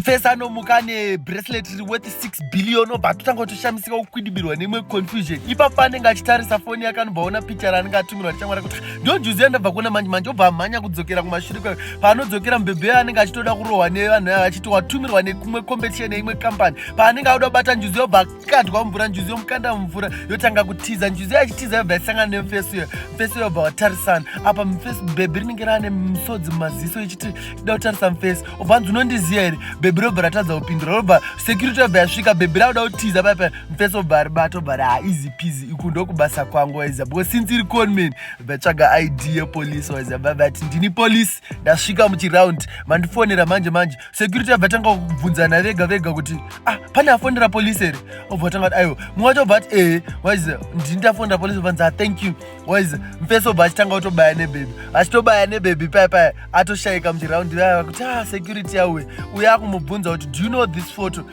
First anomuka ane bracelet riri worth 6 billion obva atotanga kutoshamisika kukwidibirwa neimwe confusion ipapo anenge achitarisa foni yake anobva aona picha raanenge atumirwa nechamwari kuti ndojuzi yandabva kuona manje manje obva amhanya kudzokera kumashure kwayo paanodzokera mubhebhe yayo anenge achitoda kurohwa nevanhu avo achiti watumirwa nekumwe competition yeimwe company paanenge auda kubata njuzi yobva akadwa mumvura njuzi yomukanda mumvura yotanga kutiza njuzi yayo achitiza yobva yasangana nemufesi uyo mufesi uyo obva watarisana apa mufesi bhebhe rinenge raane musodzi mumaziso ichiti ida kutarisa mufesi obvanzi unondiziva here bhebhi robva ratadza kupindura robva security yobva yasvika bhebhi rakuda kutiza paya paya mfesi obva aribata obva ra easy peasy iku ndokubasa kwangu waiziva because since iri conman vatsvaga id yepolice waiziva vavati ndini police ndasvika muchiround mandifonera manje manje security yobva tanga kubvunzana vega vega kuti ah pane afonera police here obva tanga kuti aiwa mumwe wacho obva ati ee waiziva ndini ndafonera police obvanzi ah thank you waize mfeso bva achitanga kutobaya nebebi achitobaya nebebi paya paya atoshayika muchiraundi vaya vakuti a ah, security yauye uye akumubvunza kuti do you know this photo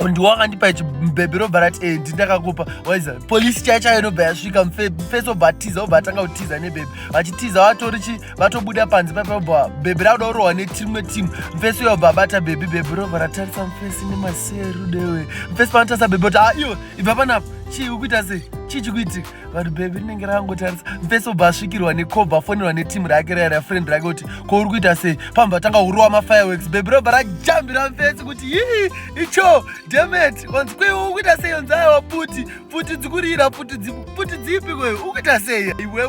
ndiwakandipa ichi bebe robva rati e ndindakakupa waiza polisi chaya chayo inobva yasvika mfeso obva atiza obva atanga kutiza nebebe vachitiza vatori chi vatobuda panze paipa obva bebe rakuda kurohwa netimwe timu mfeso iyo obva abata bebi bebe robva ratarisa mfesi nemaserudewe mfesi panotarisa bebe kuti a ah, iyo ibva panapa chii ukuita sei chii chikuitika vari bebi rinenge rakangotarisa mfeso bva asvikirwa necob afonerwa netimu rake raya rafriend rake kuti ko uri kuita sei pamwe vatanga hurowa mafireworks bebi robva rajambira mfeso kuti yii icho demet onzi kwei uri kuita sei onzi aiwa puti puti dzikurira puti dzipi kwei uri kuita sei iwewe